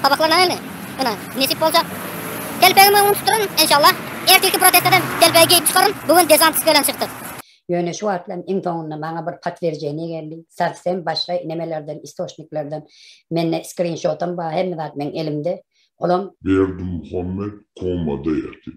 Gabaklaryna geldi. Ýöne, nesip bolsa, telpegimi öňüni tutduraryn, enşallah. Ertirki protesteden telpegi geýip çykaryn, bu gün dezantist bilen çykdyk. Ýöne şu wagtlam iň soňunda maňa bir potwierdzeniýe geldi. Sowsem başga nemelerden, istoçniklerden. Mende skrinşotam bar, hemme zat meň elimde. Olam. Berdimuhamet komada ýatyp,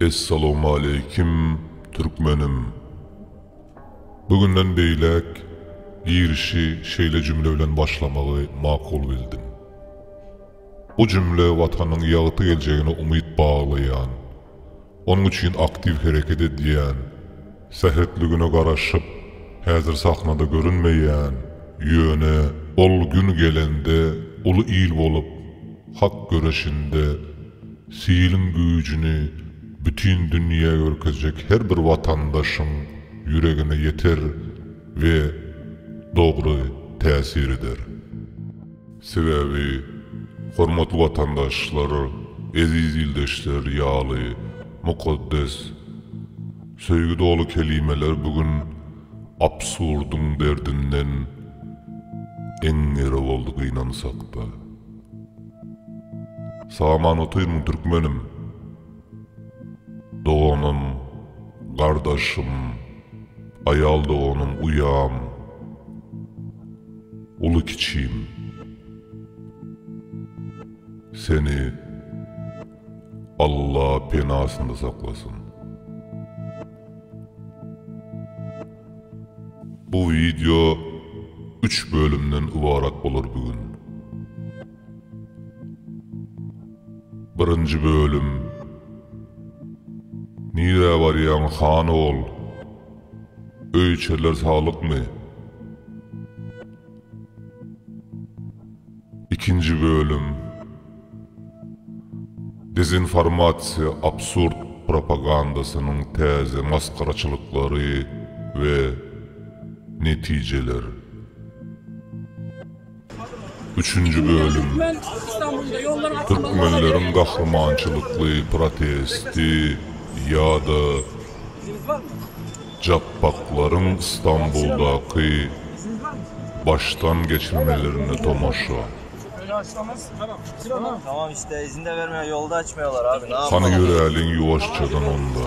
Essalawmaleýkim Türkmenim. Bu günden beýläk girişi şeýle jümle bilen başlamagy makul bildim. Bu jümle Watanyň ýagty geljegine umyt baglaýan, Onuň üçin aktiw hereket edýän, sähetligine garaşyp, häzir sahnada görünmeýän, ýöne ol gün gelende uly il bolup, hak göreşinde siliň güýjüni bütin dünýä görkezjek her bir watandaşyň ýüregine ýeter we dogry täsir eder. Sebäbi, hormatly watandaşlar, eziz ildeşler ýaly mukaddes, söýgi doly kelimeler bu gün absurdyň derdinden eňňere boldy gynansak-da. Salam Anatoýn Türkmenim! Doganym, gardaşym, aýal doganym uýam, uly-kiçim. Seni Alla penasynda saklasyn. Bu wideo üç bölümden ybarat bolar bigün. Birinji bölüm Nirä barýaň han ogul? Öýçerler saglykmy? Ikinji bölüm Dezinformasiýa absurd propagandasynyň täze masgaraçylyklary we netijeler. Üçünji bölüm Türkmenleriň gahrymançylykly protesti ýa-da Japbaklaryň Stambuldaky başdan geçirmelerine tomaşa. Hany ýöräliň ýuwaşjadan onda.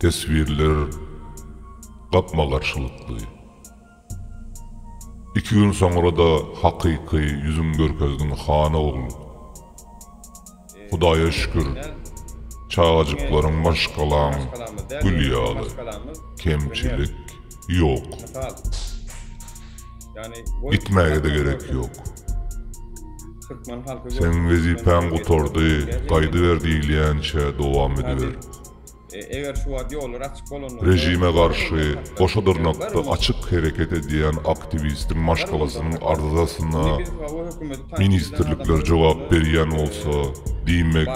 Teswirler gapma-garşylykly. Iki gün soňra-da hakyky ýüzüň görkezdiň han ogul. Hudaýa şükür, çagajyklaryň maşgalaň gül ýaly, kemçilik ýok. Gitmäge-de gerek ýok. Seň wezipäň gutardy, gaýdyber diýilýänçä dowam ediber. Režime garşy goşa dyrnakda açyk hereket edýän aktiwistiň maşgalasynyň arzasyna ministrlikler jogap berýän bolsa, diýmek,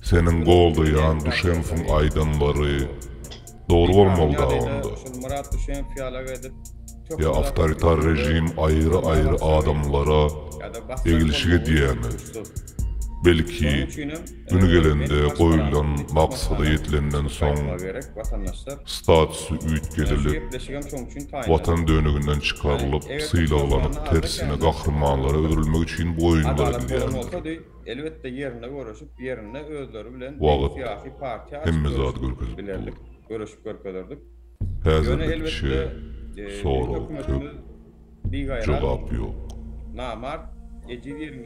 seniň goldaýan Duşenkowyň aýdanlary dogry bolmaly-da onda. Ýa awtoritar režim aýry-aýry adamlara eglişik edýärmi? Belki, Güni gelende goýulan maksada ýetilenden soň statusy üýtgedilip, Watan döneginden çykarylyp, sylaglanyp, tersine gahrymanlara öwrülmek üçin bu oýunlar edilýändir. Wagt hemme zady görkezip dur. Häzirlikçe sorag köp. jogap ýok.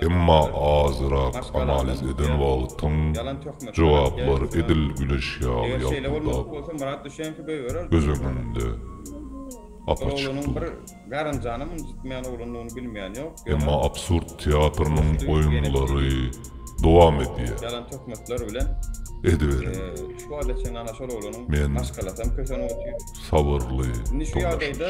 Emma azyrak analiz eden wagtyň jogaplar edil güneş ýaly ýalpyldap göz öňünde apaçyk dur. Emma absurd teatrynyň oýunlary dowam edýär. Ediberiň. Men. sabyrly dolaşyşy.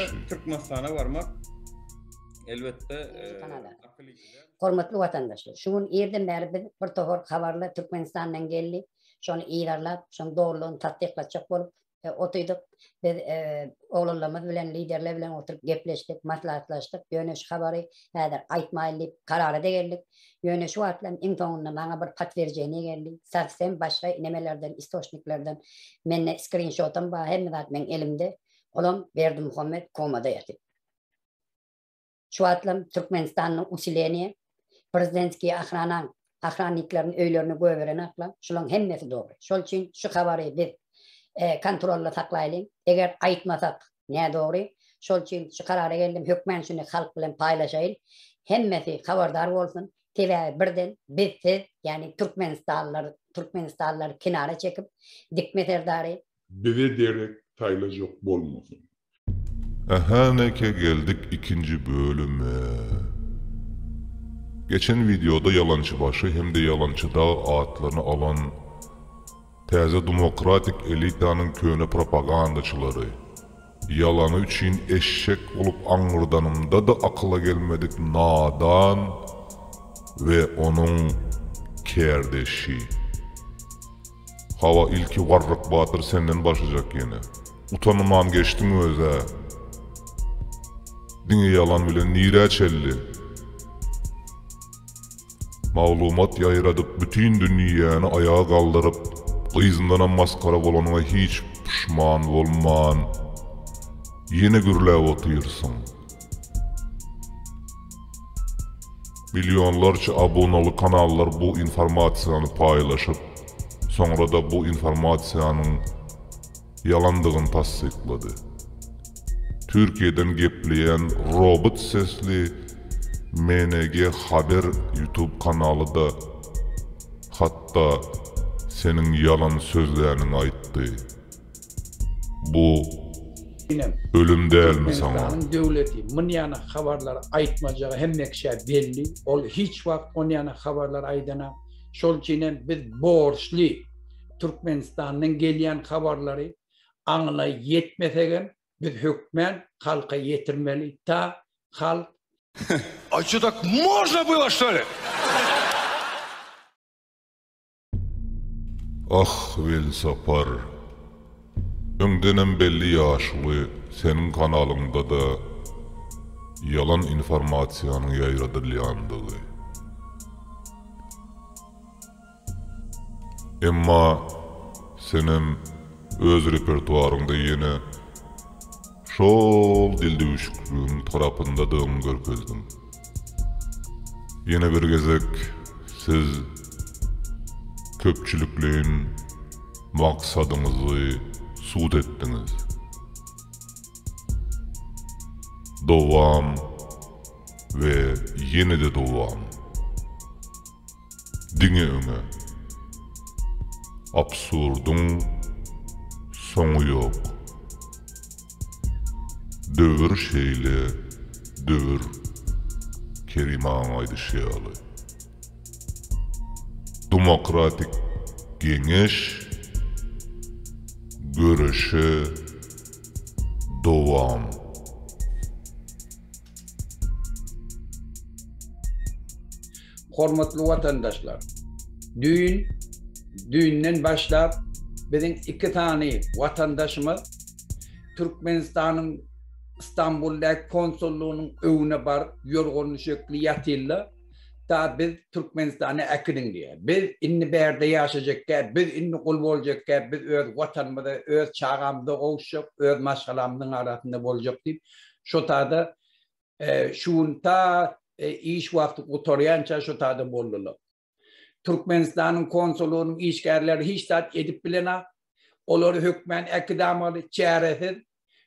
Hormatly watandaşlar! Şu gün irden bäri biz bir tohar habarlar Türkmenistandan geldi. Şony yzarlap, şonuň dogrulygyny tassyklatjak bolup otydyk. Biz oglanlarymyz bilen, liderler bilen oturyp gepleşdik, maslahatlaşdyk. Ýöne şu habary häzir aýtmaýyn diýip karara-da geldik. Ýöne şu wagtlam iň soňunda maňa bir potwierdzeniýe geldi, sowsem başga nemelerden, istoçniklerden. Mende skrinşotam bar, hemme zat meň elimde. Olam Berdimuhamet komada ýatyp. Şu wagtlam Türkmenistanda usileniýe, prezidentskiýa ahranaň, ahrannikleriň öýlerini göberenaklar, şulaň hemmesi dogry. Şol üçin şu habary biz kontrolda saklaýlyň. Eger aýtmasak, nädogry. Şol üçin şu karara geldim, hökmän şuny halk bilen paýlaşaýyn. Hemmesi habardar bolsun. Sebäbi birden biz siz, ýagny türkmenistanlylar, türkmenistanlylary kenara çekip, dikme serdary, Bize derek saýlajak bolmasyn. Ähäňeke geldik ikinji bölüme. Geçen wideoda ýalançy başy hem-de ýalançy dag atlaryny alan. Täze demokratik elitanyň köne propagandaçylary, ýalany üçin eşek bolup aňňyrdanymda-da akyla gelmedik nadan we onuň kärdeşi. Hawa, ilki Warryk batyr senden başlajak ýene. Utanman geçdiň öz-ä. Diňe ýalan bilen nirä çeldi? Maglumat ýaýradyp bütin dünýäni aýaga galdyryp gyzyndanam masgara bolanyňa hiç puşman bolman ýene gürläp otyrsyň. Millionlarça abonaly kanallar bu informasiýany paýlaşyp soňrada bu informasiýanyň ýalandygyny tassyklady. Türkiýeden gepleýän robot sesli MNG Haber YouTube kanaly-da hatda seniň ýalan sözläniňi aýtdy. Bu Inem, ölüm dälmi saňa? Türkmenistanyň döwleti mun ýana habarlary aýtmajagy hemmekiçä belli. Ol hiç wagt on ýana habarlary aýdanam. Şol üçinem biz borçly. Türkmenistandan gelýän habarlary aňyna ýetmesegem biz hökmän halka ýetirmeli ta halk A ço tak można było što li? Ah Welsapar! Öňdenem belli ýaşuly seniň kanalyňdada ýalan informasiýanyň ýaýradylýandygy. Emma senem öz repertuaryňda ýene şol dildüwşükligiň tarapyndadygyňy görkezdiň. Ýene bir gezek siz köpçülikleýin maksadyňyzy subut etdiňiz. Dowam we ýene-de dowam! Diňe öňe! Absurdyň soňy ýok. Döwür şeýle döwür Kerim agaň aýdyşy ýaly. Dumokratik geňeş göreşe dowam. Hormatly watandaşlar! Düýn, düýnden başlap biziň iki sany watandaşymyz Türkmenistanyň Stambuldaky konsullygynyň öwüne baryp ýorganly şökli ýatylda da biz Türkmenistana äkidiň diýýär. Biz indi bärde ýaşajakkä, biz indi gul boljakkä, biz öz watanymyza, öz çagamyza gowuşjak, öz maşgalamyzyň arasynda boljak diýip şo tada Şu gün ta iş wagty gutarýança şu taýda boldular. Türkmenistanyň konsulynyň işgärleri hiç zat edip bilenok. Olary hökmän äkidamaly, çäresiz.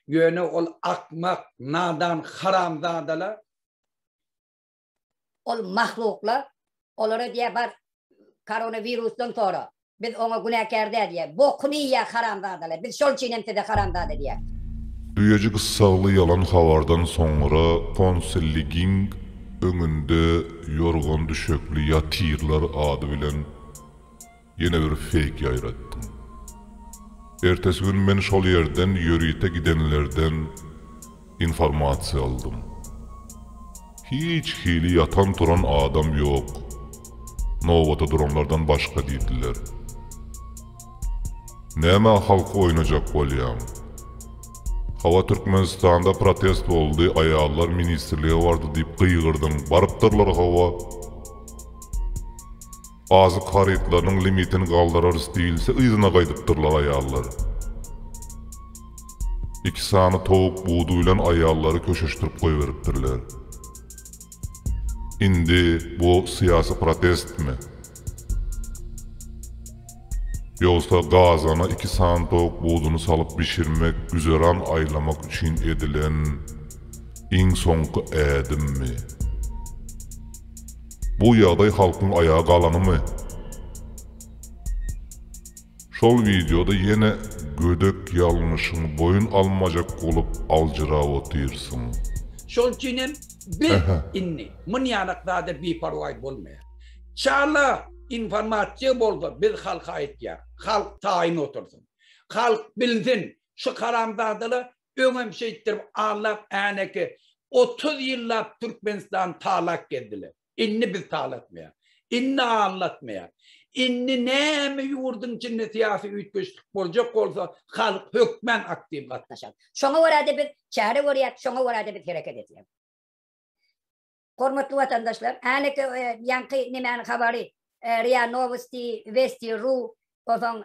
Ýöne ol akmak, nadan haramzadalar. Ol mahluklar olara diýýär bar koronawirusdan sonra Biz oňa günäkär däl diýýär. Bokuny iýýä haramzadalar. Biz şol üçin hem size haramzada diýýäs. Düýeji gyssagly ýalan habardan soňra konsulligiň öňünde ýorgan-düşekli ýatyrlar ady bilen ýene bir feýk ýaýratdyň. Ertesi gün men şol ýerden ýörite gidenlerden Informasiýa aldym. Hiç hili ýatan-turan adam ýok. Nobata duranlardan başga diýdiler. Nämä halky oýnajak bolýaň? Hawa Türkmenistanda protest boldy, aýallar ministrlige bardy diýip gygyrdym, barypdyrlar hawa. Azyk harytlarynyň limitini galdyrarys diýilse yzyna gaýdypdyrlar aýallar. Iki sany towuk budy bilen aýallary köşeşdirip goýberipdirler. Indi bu syýasy protestmi? Ýogsa gazana iki sany towuk budyny salyp bişirmek güzeran aýlamak üçin edilen iň soňky ädimmi? Bu ýagdaý halkyň aýaga galanymy? Şol wideoda ýene gödek ýalňyşyň boýun almajak bolup aljyrap otyrsyň. Şol üçin hem biz indi munýanak zada biparwaý bolmaýar. Çala informasiýa bolsa biz halka aýtýar. Halk taýyn otursyn. Halk bilsin şu haramzadalar Öňem şeýtdirip Allak Äneki otuz ýyllap Türkmenistany talak gezdiler. Indi biz talatmaýar. Indi allatmaýar. Indi näme ýurduň içinde syýasy üýtgeşlik boljak bolsa halk hökmän aktiw gatnaşar. Şoňa görä-de biz çäre görýäs, şoňa görä-de biz hereket edýäs. Hormatly watandaşlar, häneki ýaňky nemäniň habary, ria nowosti, westi ru, onsoň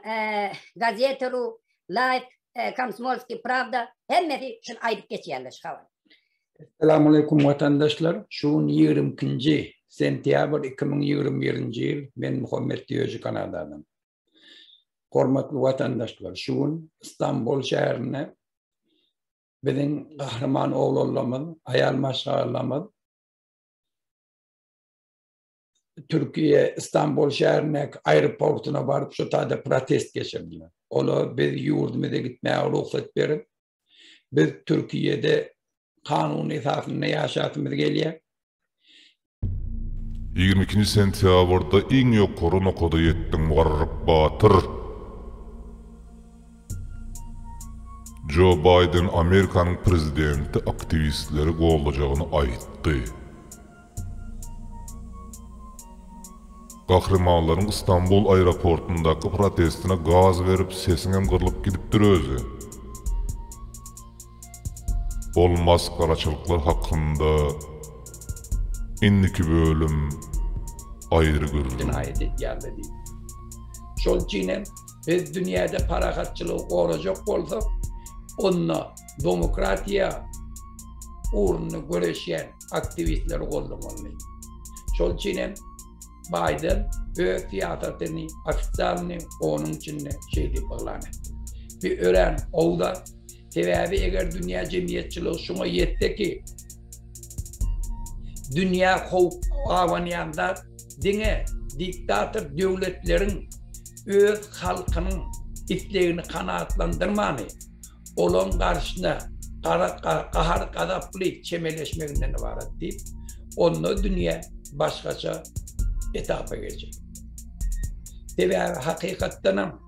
gazeta ru, life, komsmolskiý prawda, hemmesi şuny aýdyp geçýärler şu habary. Salam aleýkum watandaşlar, şu gün ýigrimi ikinji sentýabr iki müň ýigrimi birinji ýyl, men Muhammet Diýoji Kanadadan. Hormatly watandaşlar, şu gün Istanbul şäherinde biziň gahryman oglanlarymyz, aýal maşgalalarymyz Türkiýe Istanbul şäherindäki aeroportuna baryp şu taýda protest geçirdiler. Olar biz ýurdumyza gitmäge rugsat berip, biz Türkiýede kanun esasynda ýaşasymyz gelýär. Ýigrimi ikinji sentýabrda iň ýokary nokada ýetdiň Mugarryp batyr. Jo Baýden Amerikanyň prezidenti aktiwistleri goldajagyny aýtdy. Gahrymanlaryň Stambul aeroportyndaky protestine gaz berip sesiňem gyrlyp gidipdir özi. Ol masgaraçylyklar hakynda indiki bölüm aýry gürrüň. Aýat etýärler diýip. Şol üçin hem biz dünýäde parahatçylygy gorajak bolsak, onda domokratiýa ugrunda göreşýän aktiwistleri goldamalymy. Şol üçin hem. Baýden öz syýasatyny ofitsialny onuň içinde şeý diýip yglan etdi, Bi örän gowy zat, sebäbi eger dünýä jemgyýetçiligi şuňa ýetse ki, dünýä howp abanýan zat diňe diktator döwletleriň öz halkynyň islegini kanagatlandyrmany, olaň garşyna gahar-gazaply çemeleşmeginden ybarat diýip, onda dünýä başgaça etapa geçer. Sebäbi hakykatdanam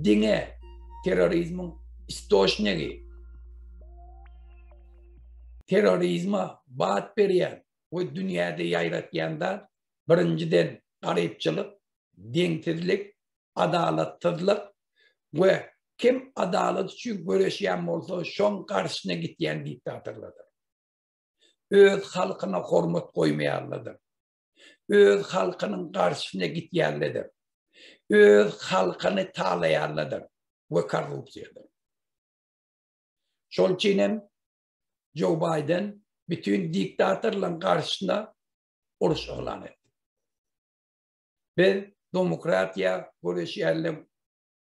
diňe terrorizmiň istoçnigi, terrorizme bat berýän we dünýäde ýaýratýan zat birinjiden garypçylyk, deňsizlik, adalatsyzlyk we kim adalat üçin göreşýän bolsa şoň garşyna gitýän diktatorlardyr. Öz halkyna hormat goýmaýanlardyr. Öz halkynyň garşyna gitýänlerdir. Öz halkyny talaýanlardyr we korrupsiýadyr. Şol üçin hem Joe Biden bütün diktatorlaryň garşyna uruş yglan etdi. Biz domokratiýa göreşýärler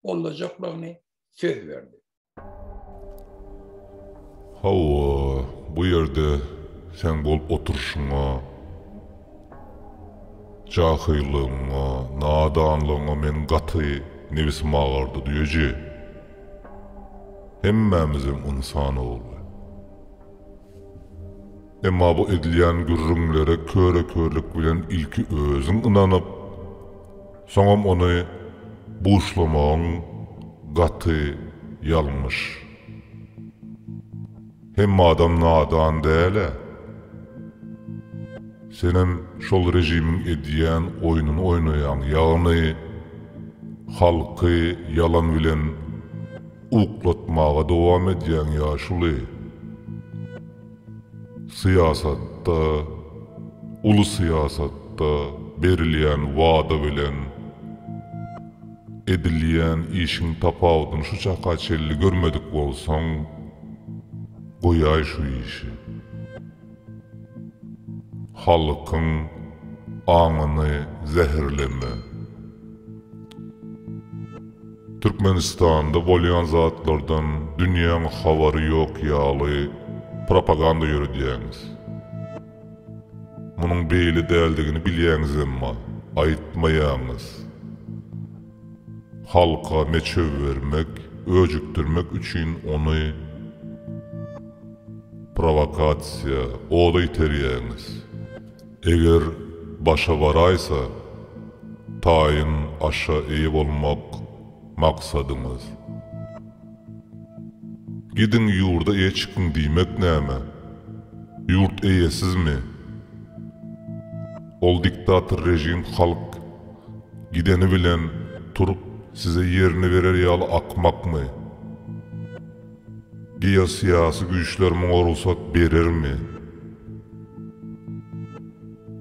gollajaklygyny söz berdi. Hawa, bu ýerde seň bolup oturyşyňa, jahylygyňa, nadanlygyňa meniň gaty nebisim agardy, düýeje. Hemmämizem ynsan ogly. Emma bu edilýän gürrüňlere köre-körlük bilen ilki özüň ynanyp, soňam ony buşlamagyň gaty ýalňyş. Hemme adam nadan däl-ä. Senem şol režimiň edýän oýnuny oýnaýaň, ýagny halky ýalan bilen uklatmaga dowam edýäň ýaşuly. Syýasatda, uly syýasatda berilýän wada bilen edilýän işiň tapawudyny şu çaka çenli görmedik bolsaň, goýaý şu işi. Halkyň aňyny zäherleme. Türkmenistanda bolýan zatlardan dünýäň habary ýok ýaly propaganda ýöredýäňiz. Munuň beýle däldigini bilýäňiz emma aýtmaýaňyz. Halka meçew bermek, öjükdirmek üçin ony prowakasiýa, oda iterýäňiz. Eger başa baraýsa, taýyn aşa eýe bolmak maksadyňyz. Gidiň ýurda eýe çykyň diýmek näme? Ýurt eýesizmi? Ol diktator režim halk gideni bilen turup size ýerini berer ýaly akmakmy? Geosyýasy güýçler muňa rugsat berermi?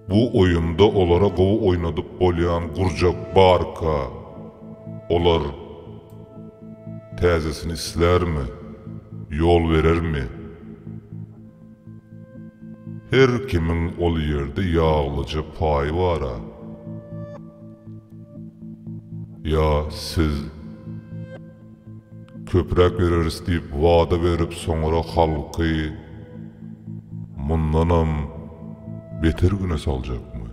Bu oýunda olara gowy oýnadyp bolýan gurjak barka, olar täzesini islärmi, ýol berermi? Her kimiň ol ýerde ýaglyja paýy bar-a. Ýa siz? Köpräk bereris diýip wada berip soňra halky mundanam beter güne saljakmy?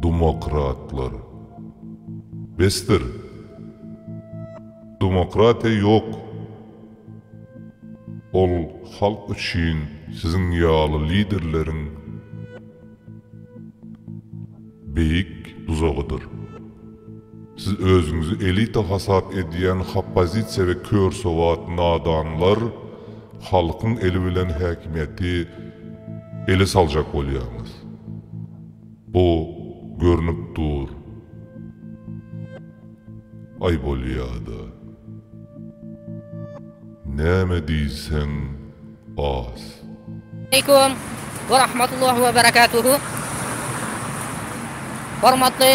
Dumokratlar. Besdir. Dumokratiýa ýok. Ol halk üçin siziň ýaly liderleriň. Beýik duzagydyr. Siz özüňizi elita hasap edýän hoppozisiýa we körsowat nadanlar halkyň eli bilen häkimiýeti ele saljak bolýaňyz. Bu görnüp dur. Aý bolýada. Näme diýseň. Oz. Aleýkum we rahmatullah we berekatuhu. Hormatly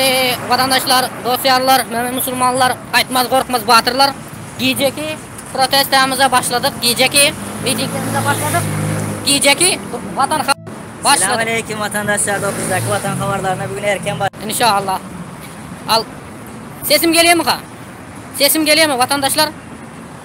watandaşlar, dostlarlar, mömin musulmanlar, gaýtmaz gorkmaz batyrlar. Gijeki protestamyza başladyk. Gijeki mitingimize başladyk. Gijeki watan başladyk. Salam aleýkum watandaşlar, dostlardaky watan habarlaryna bugün erken baş. Inşallah. Al. Sesim gelýärmi ha? Sesim gelýärmi watandaşlar?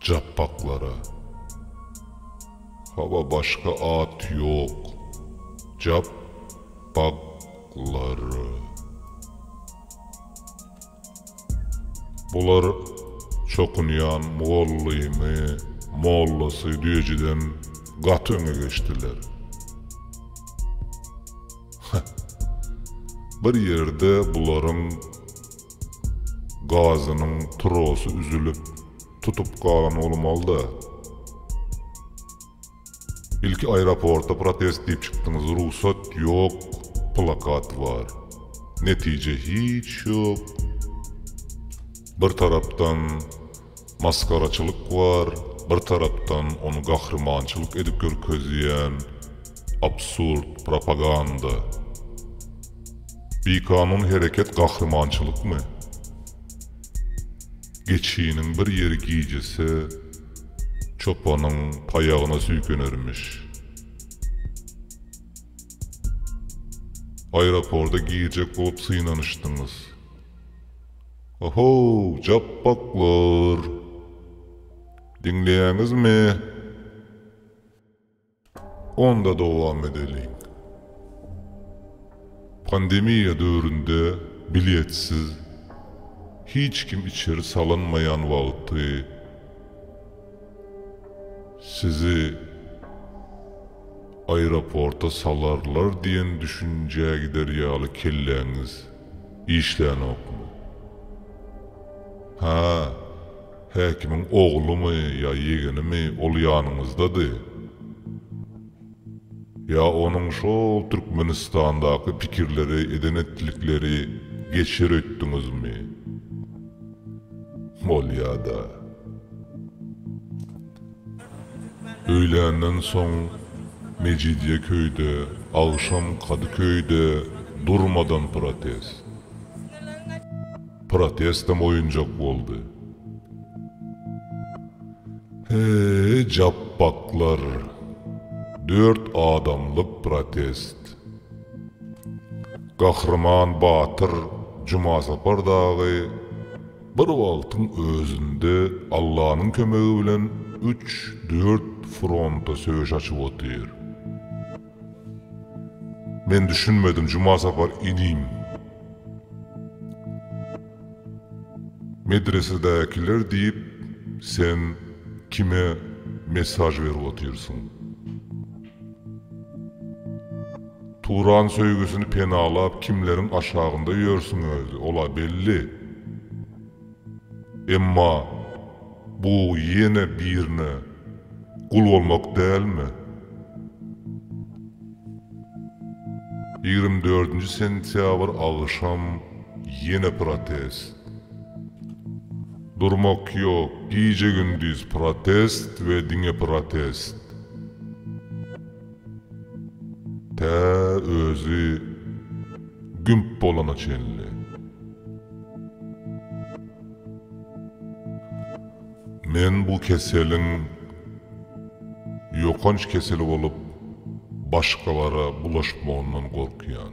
Japbaklara. Hawa başga at ýok. Jap bak lary. Bular çokunýan mugallymy, mollasy düýejiden gaty öňe geçdiler. Heh. Bir ýerde bularyň Gazynyň trosy üzülip, tutup galan bolmalyda. Ilki aeroporta protest diýip çykdyňyz, rugsat ýok plakat bar. Netije hiç ýok. Bir tarapdan. masgaraçylyk bar, bir tarapdan ony gahrymançylyk edip görkezýän absurd propaganda. Bikanun hereket gahrymançylykmy? Geçiniň bir ýeri gijese, çopanyň paýagyna süýkenermiş. Aeroporda girjek bolup synanyşdyňyz. Ohow japbaklar! Diňleýäňizmi? Onda dowam edeliň. Pandemiýa döwründe biletsiz, hiç kim içeri salynmaýan wagty sizi aeroporta salarlar diýen düşünjä gider ýaly kelläňiz. Işlänokmy? Hä, häkimiň oglumy ýa ýegenimi ol ýanyňyzdady? Ýa onuň şol Türkmenistandaky pikirleri eden-etdikleri geçer öýtdüňizmi? Bolýa-da. Öýländen soň Mejidýeköyde, agşam Kadyköyde durmadan protest. Protestem oýunjak boldy. Heý, japbaklar! Dört adamlyk protest. Gahryman batyr Jumasapar dagy Bir wagtyň özünde Allanyň kömegi bilen üç, dört fronta söweş açyp otyr. Men düşünmedim Jumasapar inim. Medresedäkiler diýip sen kime mesaj berip otyrsyň? Turan söýgüsini penalap kimleriň aşagynda ýörsüň özi, ol-a belli. Emma bu ýene birine gul bolmak dälmi? Ýigrimi dördünji sentýabr agşam ýene protest. Durmak ýok, gije-gündiz protest we diňe protest. Tä özi gümp bolana çenli. Men bu keseliň ýokanç kesel bolup başgalara bulaşmagyndan gorkýan.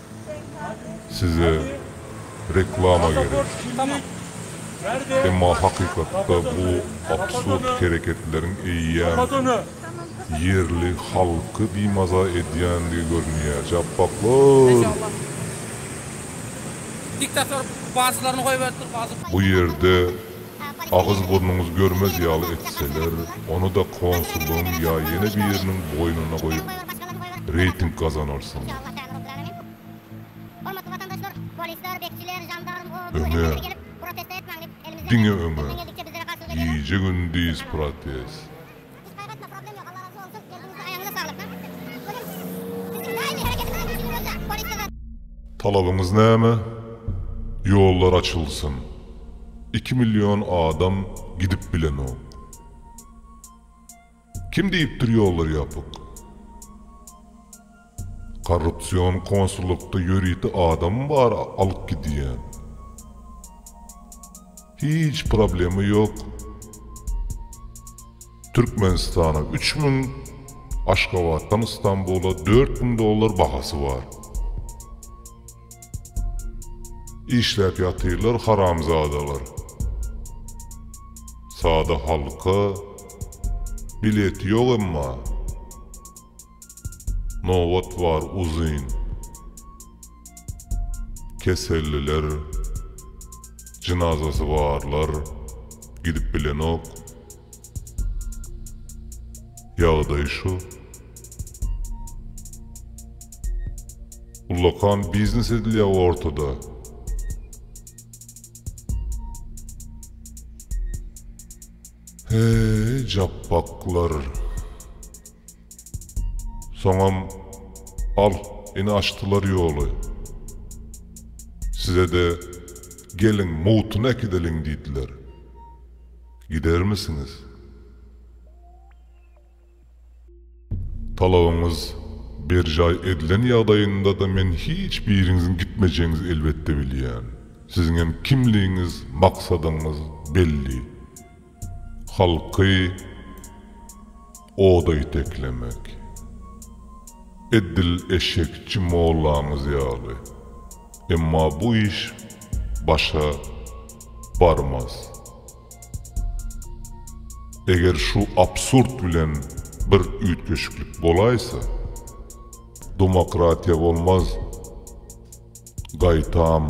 Size reklama gerek. Emma hakykatda bu absurd hereketleriň eýýäm ýerli halky bimaza edýändigi görünýär. Japbaklar! Bu ýerde Agyz burnuňyz görmez ýaly etseler, ony-da konsullygyň ýa ýene biriniň boýnuna goýup, reýting gazanarsyňyz. Öňe! Diňe öňe! Gije-gündiz protest! Talabyňyz näme? Ýollar açylsyn. Iki million adam gidip bilenok. Kim diýipdir ýollar ýapyk? Korrupsion konsullykda ýörite adam bar alyp gidýän. Hiç problema ýok. Türkmenistana üç müň, Aşgabatdan Istanbula dört müň dollar bahasy bar. Işläp ýatyrlar haramzadalar. Sada halka bileti ýok emma. Nobat bar uzyn. Keselliler, jynazasy barlar gidip bilenok. Ýagdaý şu. Ullakan biznes edilýä ortada. Heý, japbaklar. Soňam, Al, ine açdylar ýoly. Size-de, Geliň, mugtyny äkideliň diýdiler. Gidermisiňiz? Talabyňyz berjaý edilen ýagdaýynda-da men hiç biriňiziň gitmejegiňizi elbetde bilýän. Siziňem kimligiňiz, maksadyňyz belli. Halky oda iteklemek. Edil eşekçi mollaňyz ýaly. Emma bu iş başa barmaz. Eger şu absurd bilen bir üýtgeşiklik bolaýsa, domokratiýa bolmaz, gaýtam,